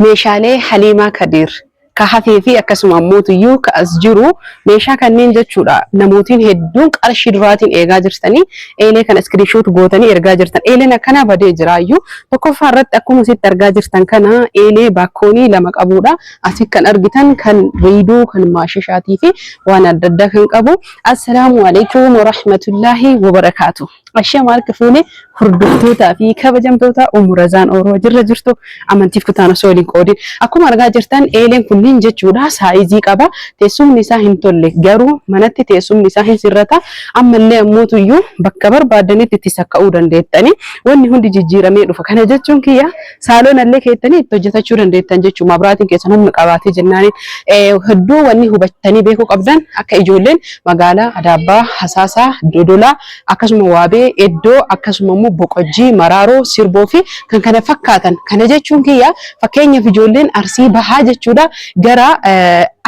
Meeshaalee Haliimaa Kadiir ka hafee fi akkasuma ammoo tuyyuu ka as jiru meeshaa kanneen jechuudha namootiin hedduun qarshii duraatiin eegaa jirtanii eelee kana screenshot gootanii ergaa jirtan eeleen akkanaa badee jiraayyuu tokkoffaa irratti akkuma sitti argaa jirtan kana eelee baakkoonii lama qabuudha asi kan argitan kan riiduu kan maashishaatii fi waan adda addaa kan qabu assalaamu alaikum warahmatullaahi wabarakaatu Ashamaa harka fuune hordoftootaa fi kabajamtoota Ummu Razaan Ooroo jirra jirtu amantiif kutaan osoo waliin qoodin. Akkuma argaa jirtan eeleen kunniin jechuudha saayizii qaba. Teessumni isaa hin tolle garuu manatti teessumni isaa hin sirrata. Ammallee ammootu iyyuu bakka barbaadanitti itti sakka'uu dandeettani. Wanni hundi jijjiiramee dhufa. Kana jechuun kiyya saaloon allee keettanii itti hojjetachuu dandeettan jechuudha. Mabraatiin keessan humna qabaatee jennaaniin hedduu wanni hubattanii beekuu qabdan akka ijoolleen magaalaa Adaabbaa, Hasaasaa, Dodolaa akkasuma waabee, eddoo, akkasuma immoo boqojjii, maraaroo, sirboo fi kan kana fakkaatan. Kana jechuun kiyya fakkeenyaaf ijoolleen Arsii bahaa jechuudha gara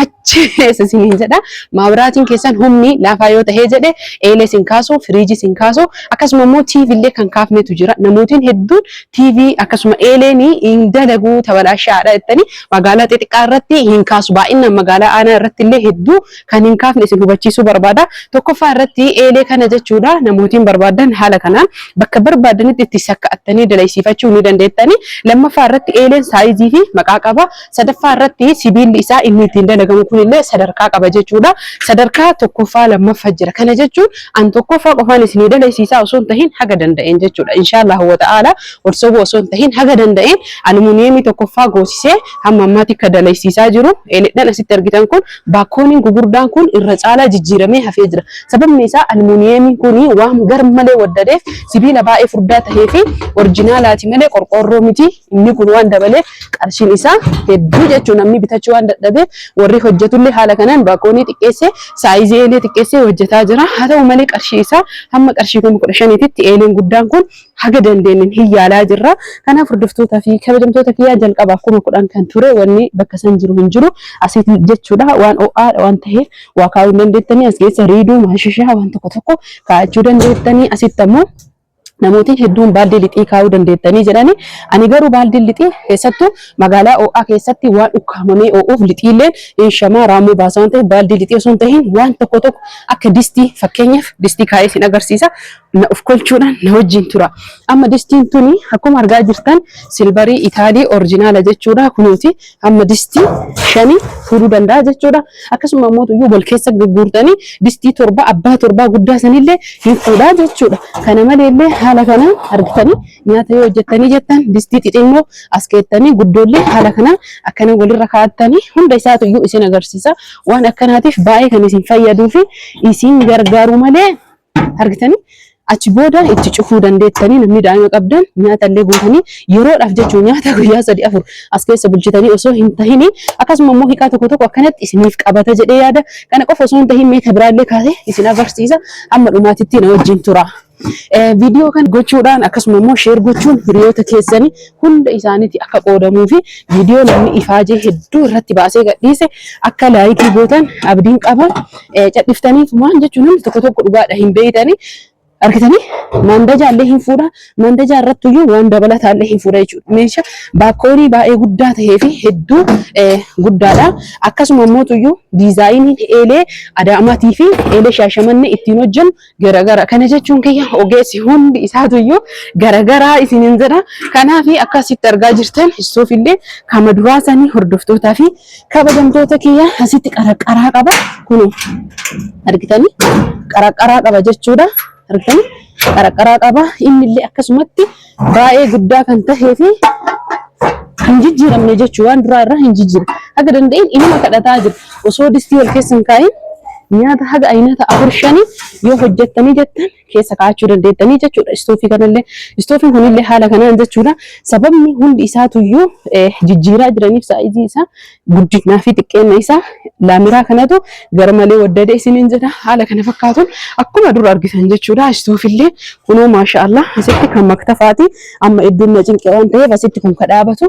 achi keessa isiniin jedha maabiraatiin keessan humni laafaa yoo tahee jedhe eelee sin kaasu, firiijii sin kaasu akkasuma immoo TV illee kan kaafnetu jira. Namootiin hedduun TV akkasuma eeleen hin dalagu tabalaashaadha jettanii magaalaa xixiqqaa irratti hin kaasu. Baay'inaan magaalaa aanaa irratti illee hedduu kan hin kaafne isin hubachiisuu barbaada. Tokkoffaa irratti eelee kana jechuudha namootiin barbaadan haala kanaan bakka barbaadanitti itti sakka'attanii dalaysiifachuu ni dandeettani. Lammaffaa irratti eeleen saayizii fi maqaa qaba. Sadaffaa irratti sibiilli isaa inni ittiin dalagamu kunillee sadarkaa qaba jechuudha. Sadarkaa tokkoffaa lammaffa jira. Kana jechuun an tokkoffaa qofaan isinii dalaysiisaa osoo hin tahin haga danda'een jechuudha. Inshaallahu wa ta'aala wal sobuu osoo hin tahin haga danda'een aluminiyeemii tokkoffaa goosisee hamma ammaatti akka dalaysiisaa jiru eeleedhaan asitti argitan kun Baakkooniin gugurdaan kun irra caalaa jijjiiramee hafee jira. Sababni isaa almuuniyeemiin kun waan garmalee waddadeef sibiila baay'ee furdaa tahee fi orijinaalaati malee qorqoorroo miti. Inni kun waan dabaleef qarshiin isaa hedduu jechuu namni bitachuu waan dadhabeef warri hojjetullee haala kanaan baakkoonii xiqqeessee saayizii eelee xiqqeessee hojjetaa jira. Haa ta'u malee qarshii isaa hamma qarshii kuma kudha shaniititti eeleen guddaan kun haga dandeenyen hin yaalaa jirra. Kanaaf hordoftoota fi kabajamtoota kiyyaa jalqaba akkuma kudhan kan ture wanni bakka san jiru hin jiru asitti jechuudha waan o'aadha waan ta'eef waa kaa'uu hin dandeettanii as keessa riiduu maashishaa waan tokko tokko kaa'achuu dandeettanii asitti ammoo namootiin hedduun baaldii lixii kaa'uu dandeettanii jedhani ani garuu baaldiin lixii keessattuu magaalaa o'aa keessatti waan ukkaamamee o'uuf lixiilleen hin shamaa raamuu baasaa waan ta'eef baaldii lixii osoo hin tahin waan tokko tokko akka distii fakkeenyaaf distii kaa'ee sin agarsiisa na of kolchuudhaan na wajjin tura. Amma distiin tuni akkuma argaa jirtan silbarii Itaalii orjinaala jechuudha. Kunuuti amma distii shanii fuudhuu danda'a jechuudha. Akkasuma immoo iyyuu wal keessa gurgurtanii distii torba abbaa torbaa guddaa sanillee hin fuudhaa jechuudha. Kana malee illee haala kana argitanii nyaata yoo hojjettanii jettan distii xixinnoo as keettanii guddoollee haala kana akkana walirra kaa'attanii hunda isaatu iyyuu isin agarsiisa. Waan akkanaatiif baay'ee kan isin fayyaduu fi isin gargaaru malee argitanii achi booda itti cufuu dandeettanii namni daa'ima qabdan nyaata illee guutanii yeroodhaaf jechuun nyaata guyyaa sadii afur as keessa bulchitanii osoo hin tahini akkasuma immoo hiikaa tokko tokko akkanatti isiniif qabata jedhee yaada kana qofa osoo hin tahin meeta biraallee kaasee isin agarsiisa amma dhumaatitti na wajjin tura. Viidiyoo kan gochuudhaan akkasuma immoo sheer gochuun hiriyoota keessanii hunda isaaniiti akka qoodamuu fi viidiyoo namni ifaajee hedduu irratti baasee gadhiise akka laayikii gootan abdiin qaba. Cadhiftanii tumaan jechuun namni tokko tokko dhugaadha hin beeytanii argitanii mandajaa illee hin fuudha. Mandajaa irratti iyyuu waan dabalataa illee hin fuudha jechuudha. Meeshaa baakoorii baay'ee guddaa ta'ee fi hedduu guddaadha. Akkasuma immoo iyyuu diizaayiniin eelee adaamaatii fi eelee shaashamannee ittiin hojjennu garagara kana jechuun kiyya ogeessi hundi isaatuyyuu garagaraa isinin jedha kanaaf akkasitti argaa jirtan istuuf illee kama duraa sanii hordoftootaa fi kabajamtoota kiyya asitti qaraqaraa qaba kun argitanii qaraqaraa qaba jechuudha argitanii qaraqaraa qaba inni illee akkasumatti baay'ee guddaa kan tahee fi hin jijjiiramne jechuu waan duraa irraa hin jijjiiramne haga danda'een inuma kadhataa jira osoo distii wal keessa hin kaa'in nyaata haga ayinata afur shanii yoo hojjettanii jettan keessa kaa'achuu dandeettanii jechuudha istoofii kanallee istoofiin kunillee haala kanaan jechuudha sababni hundi isaatuyyuu eh, jijjiiraa jiraniif saayizii isaa Guddinaa fi xiqqeenna isaa laamiraa kanatu garmalee waddade isiniin jedha. Haala kana fakkaatuun akkuma dur argitan jechuudha. Istoofillee kunoo maasha Allah asitti kan maktafaati. Amma iddoon na cinqee waan ta'eef asitti kun ka dhaabatu.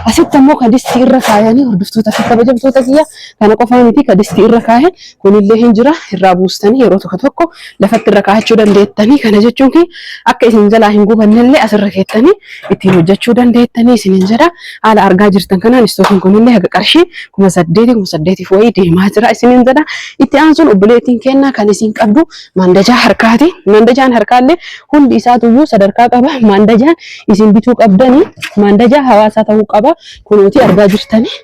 Asitti ammoo ka distii irra kaayanii hordoftoota fi kabajamtoota kiyya kana qofaa miti ka distii irra kaayan Kunillee hin jira irraa buustanii yeroo tokko tokko lafatti irra kaa'achuu dandeettanii kana jechuun kun akka isin jalaa hin gubannellee asirra keettanii ittiin hojjechuu dandeettanii isin hin jedha haala argaa jirtan kanaan istookiin kunillee haga qarshii kuma saddeeti kuma saddeetiif wayii deemaa jira isin hin jedha itti aansuun obboleettiin kennaa kan isin qabdu maandajaa harkaati maandajaan harkaallee hundi isaatuyyuu sadarkaa qaba maandajaan isin bituu qabdanii maandajaa hawaasaa ta'uu qaba kunuutii argaa jirtanii.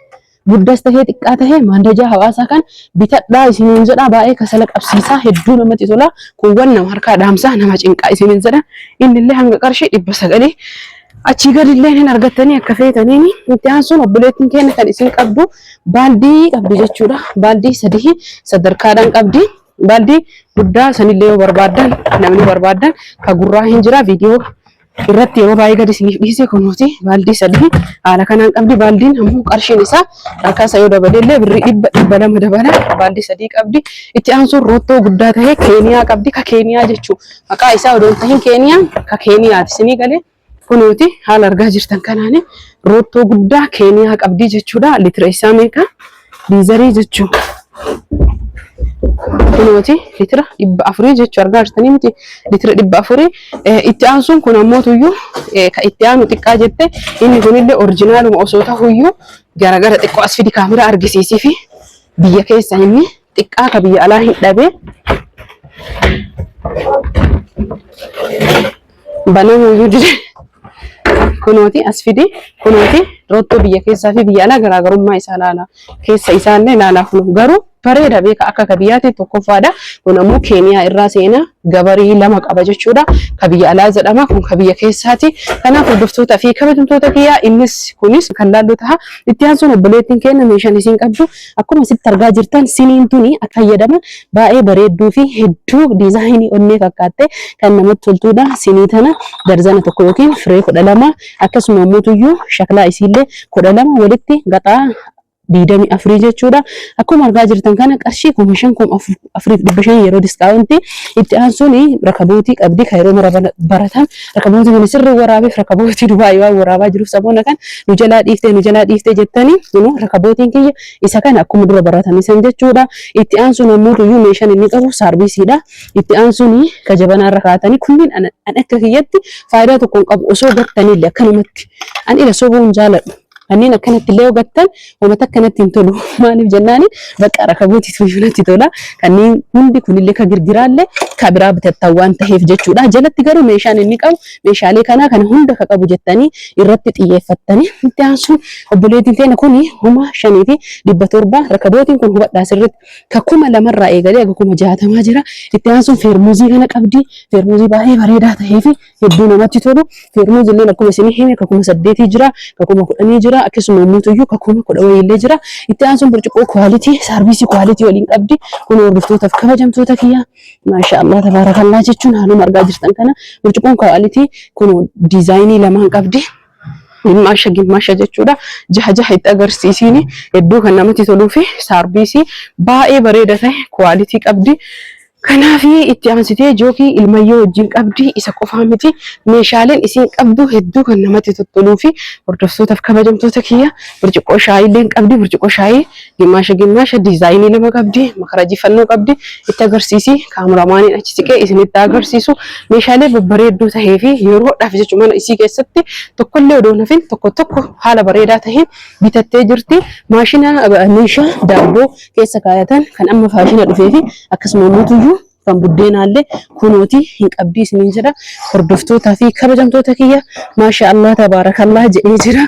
guddaas tahee xiqqaa tahee maandajaa hawaasaa kan bitadhaa isiniin jedhaa baay'ee kasala qabsiisaa hedduu namatti tolaa kuuwwan nama harkaa dhaamsaa nama cinqaa isiniin jedha inni illee hanga qarshii dhibba sagalee achii gadi illee hin argattanii akka feetaniin itti aansuun obboleettiin keenya kan isin qabdu baaldii qabdi jechuudha baaldii sadii sadarkaadhaan qabdi baaldii guddaa sanillee yoo barbaadan namni barbaadan ka gurraa hin jira viidiyoo irratti yeroo baay'ee gadi isiniif dhiise kunuuti baaldii sadii haala kanaan qabdi baaldiin ammoo qarshiin isaa harkaa isa yoo dabale illee birrii dhibba dhibba lama dabala baaldii sadii qabdi itti aansuun roottoo guddaa ta'e keeniyaa qabdi ka keeniyaa jechuu maqaa isaa odoo hin tahin keeniyaa ka keeniyaati isinii galee kunuuti haala argaa jirtan kanaan roottoo guddaa keeniyaa qabdi jechuudha litira isaa meeqa Diizarii jechuun kunooti litira dhibba afurii jechuu argaa jirtanii miti litira dhibba afurii itti aansuun kun ammoo tuyyuu ka itti aanu xiqqaa jette inni kunillee orijinaaluma osoo tahuyyuu garagara xiqqoo as fidi kaamera argisiisii fi biyya keessa inni xiqqaa ka biyya alaa hin dhabee banamuu iyyuu dide kunooti as fide kunooti rottoo biyya keessaa fi biyya alaa garaagarummaa isaa laala keessa isaa illee laalaa kun garuu bareeda beeka akka ka biyyaatti tokkoffaadha kun ammoo keeniyaa irraa seenaa gabarii lama qaba jechuudha ka biyya alaa jedhama kun ka biyya keessaati kanaaf hordoftoota fi kabajamtoota kiyyaa innis kunis kan laallu taha itti aansuun obboleettiin keenya meeshaan isiin qabdu Akkuma asitti argaa jirtan siniin tuni akka fayyadama baay'ee bareedduu fi hedduu diizaayinii onnee fakkaattee kan namatti toltuudha. Sinii tana darzana tokko yookiin firee kudha lama akkasuma mootuyyuu shaklaa isiillee kudha lama walitti gaxaa diidamii afurii jechuudha. Akkuma argaa jirtan kana qarshii kuma shan kuma afur afuriif dhibba shan yeroo diskaawunti itti aansuun rakabootii qabdi kan yeroo mara baratan rakabootii kana sirri waraabeef rakabootii dubaayii waan waraabaa jiruuf saboona kan nu jalaa dhiiftee nu jalaa dhiiftee jettanii immoo rakabootiin kiyya isa kana akkuma dura baratan isan jechuudha itti aansuun ammoo iyyuu meeshaan inni qabu saarbiisiidha itti aansuun ka jabanaa irra kaatanii kunniin an an akka kiyyatti faayidaa tokko hin qabu osoo gattaniillee akkanumatti an ila sobuu hin jaaladhu Kanneen akkanatti illee hubattan wanta akkanatti hin tolu. Maaliif jennaan bakka rakabooti tuyyuu natti tola. Kanneen hundi kunillee ka girgiraallee ka biraa bitattan waan ta'eef jechuudha. Jalatti garuu meeshaan inni qabu meeshaalee kanaa kana hunda ka qabu jettanii irratti xiyyeeffattanii itti aansuun obboleettiin teena kun kuma shanii fi dhibba torba rakabootiin kun hubadhaa sirriitti ka kuma lamarraa eegalee aga kuma jaatamaa jira. Itti aansuun feermuuzii kana qabdi. Feermuuzii baay'ee bareedaa ta'ee fi hedduu namatti tolu. Feermuuz illee akkuma isin hime ka kuma saddeetii jira, ka kuma kudhanii jira, akkasuma ummuutuyyuu ka kuma kudha wayii illee jira. Itti aansuun burcuqqoo kwaalitii, saarviisii kwaalitii waliin qabdi. Kun hordoftootaaf kabajamtoota kiyya. Maasha Allah tabaarakallaa jechuun haaluma argaa jirtan kana burcuqqoon kwaalitii kun diizaayinii lamaan qabdi. Gimmaasha gimmaasha jechuudha. Jaha jaha itti agarsiisiin hedduu kan namatti toluu fi saarbiisii baay'ee bareeda ta'e kuwaalitii qabdi. Kanaaf itti aansitee jookii ilmayyoo wajjin qabdi isa qofaa miti meeshaaleen isiin qabdu hedduu kan namatti tottoluu fi hordoftootaaf kabajamtoota kiyya birciqqoo shaayii illee qabdi birciqqoo shaayii Gimmaasha gimmaasha diizaayinii lama qabdi, makarajii fannoo qabdi. Itti agarsiisi kaameramaaniin achi siqee isinitti agarsiisu meeshaalee babbareedduu tahee fi yeroodhaaf jechu mana isii keessatti tokkollee odoo nafin tokko tokko haala bareedaa taheen bitattee jirti. Maashina meeshaa daabboo keessa kaayatan kan amma faashina dhufee fi akkasuma mootuyyuu kan buddeenaallee kunooti hin qabdii isiniin jedha hordoftootaa fi kabajamtoota kiyya maasha Allah tabaarakallaa jedhee jira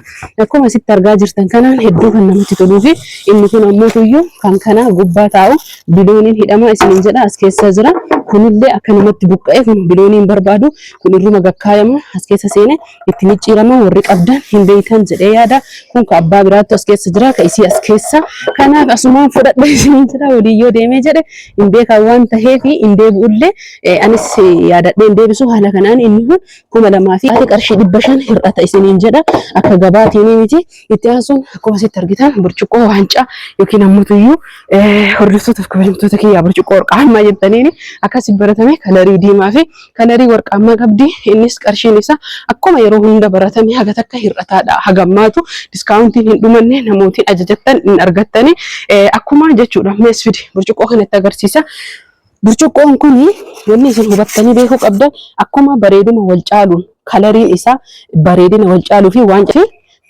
akkuma asitti argaa jirtan kanaan hedduu kan namatti toluu fi inni kun ammoo tuyyuu kan kanaa gubbaa taa'u bilooniin hidhamaa isiniin jedha as keessa jira kunillee akka namatti buqqa'e kun bilooniin barbaadu kun irruma gakkaayamu as keessa seene itti micciiraman warri qabdan hin beeytan jedhee yaada. Kun ka abbaa biraattu as keessa jira, ka isii as keessa. Kanaaf asumaan fudhadha isinii jira waliin yoo deemee jedhe hin beekan waan taheef hin deebi'ullee eh, anis yaadadhee hin deebisu haala kanaan inni kun kuma lamaa fi qarshii dhibba shan hir'ata isiniin jedha akka gabaatiin miti. Itti aansuun akkuma asitti argitan burcuqqoo waancaa yookiin ammutu iyyuu hordoftootaaf kabajamtoota kiyyaa burcuqqoo warqaammaa jettaniin akkasi baratame kalarii diimaa fi kalarii warqaammaa qabdi. Innis qarshiin isaa akkuma yeroo hunda baratame haga takka hir'ataadha. Hagammaatu diskaawuntiin hin dhumanne namootiin ajajattan hin argattani akkuma jechuudha. Mees fidi burcuqqoo kanatti agarsiisa. Burcuqqoon kun wanni isin hubattanii beekuu qabdan akkuma bareeduma wal caaluun kalariin isaa bareedina wal caaluu fi waan fi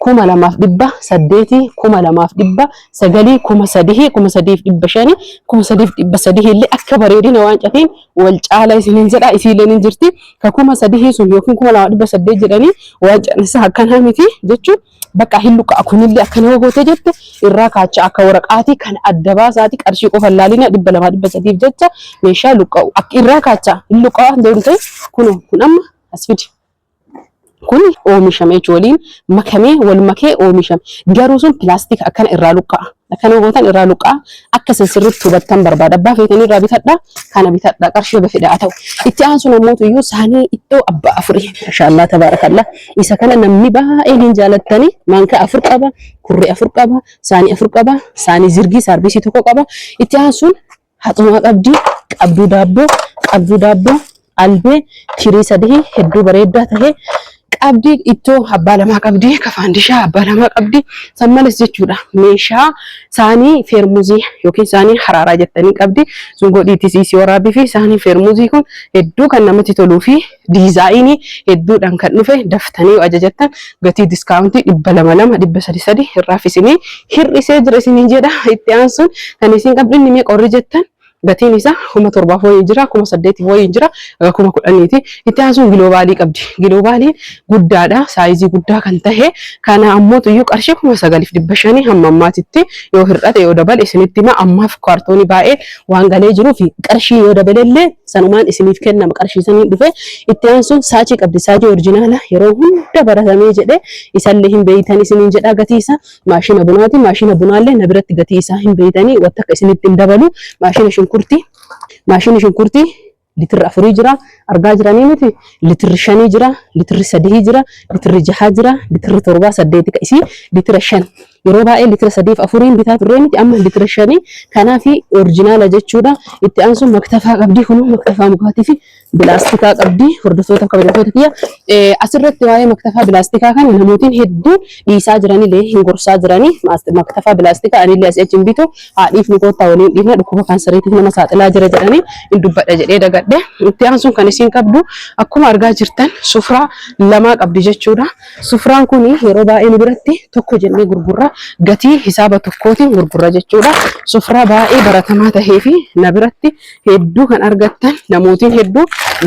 kuma lamaaf dhibba saddeetii kuma lamaaf dhibba sagalii kuma sadihii kuma sadiif dhibba shanii kuma sadiif dhibba sadihii illee akka bareedina waan catiin wal caala isiniin jedha isiileen hin jirti ka kuma sadihii sun yookiin kuma lamaaf dhibba saddeet jedhanii waan caan isaa akkanaa miti jechuun Bakka hin luka'a kunillee akka nama gootee jette irraa kaachaa akka waraqaatii kan adda baasaati qarshii qofa hin laalina dhibba lamaa dhibba sadiif jecha meeshaa luka'u akka irraa kaachaa hin luka'a deemtee kun kun amma as fidi. Kun oomishame jechuun waliin makamee wal makee oomishame garuu sun pilaastika akkana irraa luka'a. Akkana gootan irraa luqqaa akka isin sirriitti hubattan barbaada. Abbaa feetanii irraa bitadha, kana bitadha, qarshii haga fedhe haa ta'u. Itti aansuun ammootu iyyuu saanii iddoo abbaa afurii. Mashaallaa tabaarakallaa. Isa kana namni baay'een hin jaalattani. Maankaa afur qaba, kurree afur qaba, saanii afur qaba, saanii zirgii saarbiisii tokko qaba. Itti aansuun Haxumaa qabdi, qabduu daabboo, qabduu daabboo, albee, tirii sadii hedduu bareeddaa tahe qabdi, ittoo abbaa lamaa qabdi, kafaandishaa abbaa lamaa qabdi. San malees jechuudha meeshaa saanii feermuzii yookiin saanii haraaraa jettanii qabdi. Sun godhiitis isii waraabii fi saanii feermuzii kun hedduu kan namatti toluu fi Diizaayinii hedduudhaan kan dhufe daftanii yoo ajajattan gatii diskaawuntii dhibba lama lama dhibba sadi sadi irraaf isinii hir'isee jira isiniin jedha. Itti aansuun kan isin qabdu inni meeqa warri jettan gatiin isaa kuma torbaaf wayii jira kuma saddeetiif wayii jira aga kuma kudhaniiti. Itti aansuun giloobaalii qabdi. Giloobaaliin guddaadha saayizii guddaa kan tahe kana ammoo tuyyuu qarshii kuma sagaliif dhibba shanii hamma ammaatitti yoo hir'ate yoo dabale isinitti hima ammaaf kaartoonii baay'ee waan galee jiruu fi qarshii yoo dabalellee sanumaan isiniif kennama qarshii saniin dhufe itti aansuun saachii qabdi saachii orjinaala yeroo hunda baratamee jedhe isallee hin beeytan isiniin jedhaa gatii isaa maashina bunaati maashina bunaallee na biratti gatii isaa hin beeytanii watta akka isinitti hin dabalu maashina shunkurtii maashina shunkurtii litirri afurii jira argaa jiranii miti litirri shanii jira litirri sadihii jira litirri jahaa jira litirri torbaa saddeeti ka isii litira shan yeroo baay'ee litira sadiif afuriin bitaa turree miti amma litira shanii kanaa fi orijinaala jechuudha itti aansuun maktafaa qabdii kun maktafaa mukaatii fi bilaastikaa qabdii hordoftoota kabajatoota kiyya asirratti waa'ee maktafaa bilaastikaa kana namootiin hedduun dhiisaa jiranilee hin gorsaa jiranii Maast- maktafaa bilaastika anillee asii achi hin bitu haa dhiifnu koottaa waliin dhiifna dhukkuba kansariitiif nama saaxilaa jira jedhanii hin dubbadha jedhee dagadhe itti aansuun kan isiin qabdu akkuma argaa jirtan sufraa lamaa qabdi jechuudha sufraan kun yeroo baay'ee nu biratti tokko jennee gurgurra gatii hisaaba tokkootiin gurgurra jechuudha sufraa baay'ee baratamaa tahee fi na biratti hedduu kan argattan namootiin hedduu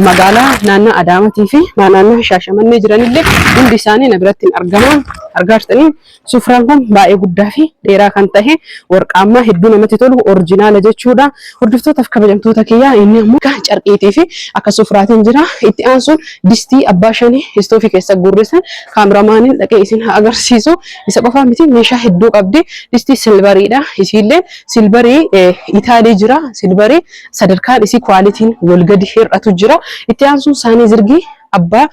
magaalaa naannaa Adaamatii fi naannaa Shaashamannee jiranillee hundi isaanii na biratti hin argaman argaa jirtanii sufraan kun baay'ee guddaa fi dheeraa kan ta'e warqaammaa hedduu namatti tolu orjinaala jechuudha hordoftootaf kabajamtoota kiyyaa inni ammoo akka carqiitii fi akka sufraatiin jira itti aansuun distii abbaa shanii istoofii keessa guurrisan kaameramaaniin dhaqee isin haa agarsiisu isa qofaa miti meeshaa hedduu qabdi distii silvariidha isiillee Silvarii Itaalii jira. Silvarii sadarkaan isii kwaalitiin wal gadi hir'atu jira. Itti aansuun saanii zirgii abbaa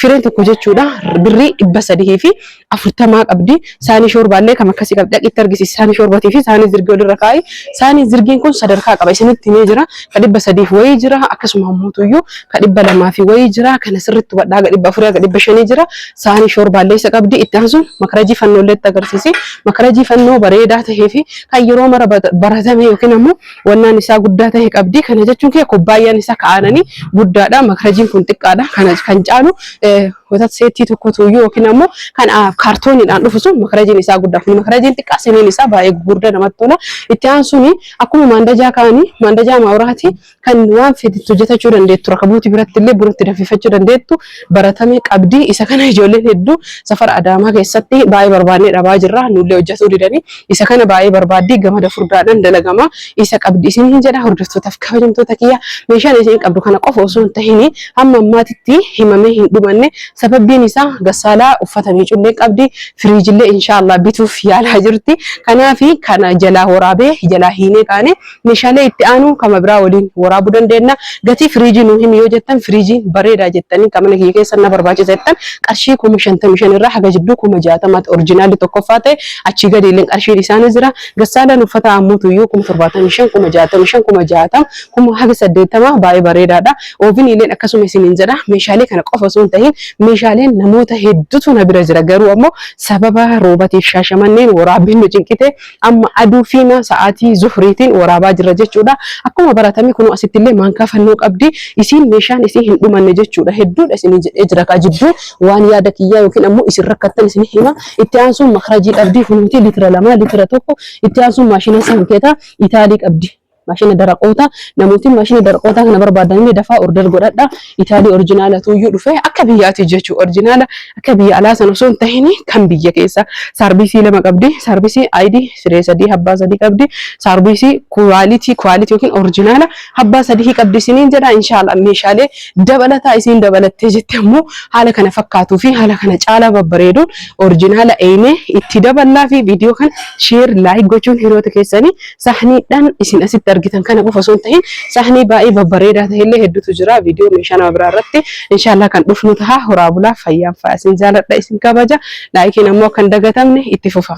fireen tokko jechuudha. Birrii dhibba sadihii fi afurtamaa qabdi. Saanii shoorbaallee kam akkasii qabdi. Dhaqitti argisiisi saanii shoorbatii fi saanii zirgii walirra kaa'i. Saanii zirgiin kun sadarkaa qaba. Isinitti himee jira. ka dhibba sadiif wayii jira akkasuma ammuutuyyuu ka dhibba lamaa fi wayii jira kana sirritti hubadhaa ga dhibba afurii ga dhibba shanii jira saanii shoorbaallee isa qabdi itti aansuun makarajii fannoollee itti agarsiisi makarajii fannoo bareedaa tahee fi kan yeroo mara bata- baratame yookiin ammoo wannaan isaa guddaa tahe qabdi kana jechuun kee kubbaayyaan isaa ka'aananii guddaadha makarajiin kun xiqqaadha kana kan caalu eh, watat seettii tokkotu iyyuu yookiin ammoo kan ah, kaartooniidhaan dhufu sun makarajiin isaa guddaa kun makarajiin xiqqaa siniin isaa baay'ee gurguddaa namatti tola itti aansuun Akkuma maandajaa kaani maandajaa maawraati kan waan fedhe hojjetachuu dandeettu raka buuti biratti illee buratti danfifachuu dandeettu baratame qabdi isa kana ijoolleen hedduu safara adaamaa keessatti baay'ee barbaannee dhabaa jirra nullee hojjetuu didanii isa kana baay'ee barbaaddii gamada furdaadhaan dalagama isa qabdi isin hin jedha hordoftootaaf kabajamtoota kiyya meeshaan isin qabdu kana qofa osoo hin tahinii hamma ammaatitti himamee hin dhumanne Sababbiin isaa Gassaalaa uffata miiccullee qabdi, firiijillee inshaa Allaah bituuf yaalaa jirti. Kanaaf kana jalaa woraabee jalaa hiinee kaane meeshaalee itti aanu kama biraa woliin woraabuu dandeenna. Gatii firiijii nuu himi yoo jettan firiijiin bareedaa jettanii ka mana kiyya keessa na barbaachisa jettan qarshii 55,000 irraa haga jidduu 60,000tti orijinaalli tokkoffaa ta'e achii gadiilleen qarshiin isaa ni jira. Gassaalaan uffata aammuutuyyuu 75,000, 65,000, 60,000, kuma haga 80 baay'ee bareedaadha. Ooviniileen akkasuma isiniin jedha. Meeshaalee kana qofa osoo hin tahin meeshaaleen namoota hedduutu na bira jira. Garuu ammoo sababa roobatiif shaashamanneen waraabbiin nu cinqite amma aduu fiima sa'aatii zuhriitiin waraabaa jirra jechuudha. Akkuma baratame kunoo asitti illee maankaa fannoo qabdi. Isiin meeshaan isii hin dhumanne jechuudha. Hedduudha isiniin jedhee jira kaa jidduu waan yaada kiyyaa yookiin ammoo isin rakkattan isin hima. Itti aansuun makrajii qabdi kunuuti litira lama litira tokko itti aansuun maashina sankeeta itaalii qabdi. Maashina daraqoota namooti maashina daraqoota kana barbaadanillee dafaa order godhadha. Itaalii orijinaala tuuyyuu dhufe akka biyyaati jechuudha. Orijinaala akka biyya alaa sana osoo hin tahin kan biyya keessa saarbiisii lama qabdi. Saarbiisii ID siree sadii habbaa sadii qabdi. Saarbiisii kuwaalitii kuwaalitii yookiin orijinaala habbaa sadii qabdi isiniin jedha. Inshaallah meeshaalee dabalataa isiin dabalattee jette ammoo haala kana fakkaatuu fi haala kana caalaa babbareeduun orijinaala eeynee itti daballaa fi viidiyoo kana sheer laayik gochuun hiriyoota keessanii Sahniidhaan isin asitti argitan kana qofa osoo hin tahin sahnii baay'ee babbareedaa ta'e illee hedduutu jira. Viidiyoo meeshaa nama biraa irratti inshaallah kan dhufnu taha. Horaa bulaa fayyaan fa'a isin jaaladha isin kabaja. Laayikiin ammoo akka hin dagatamne itti fufa.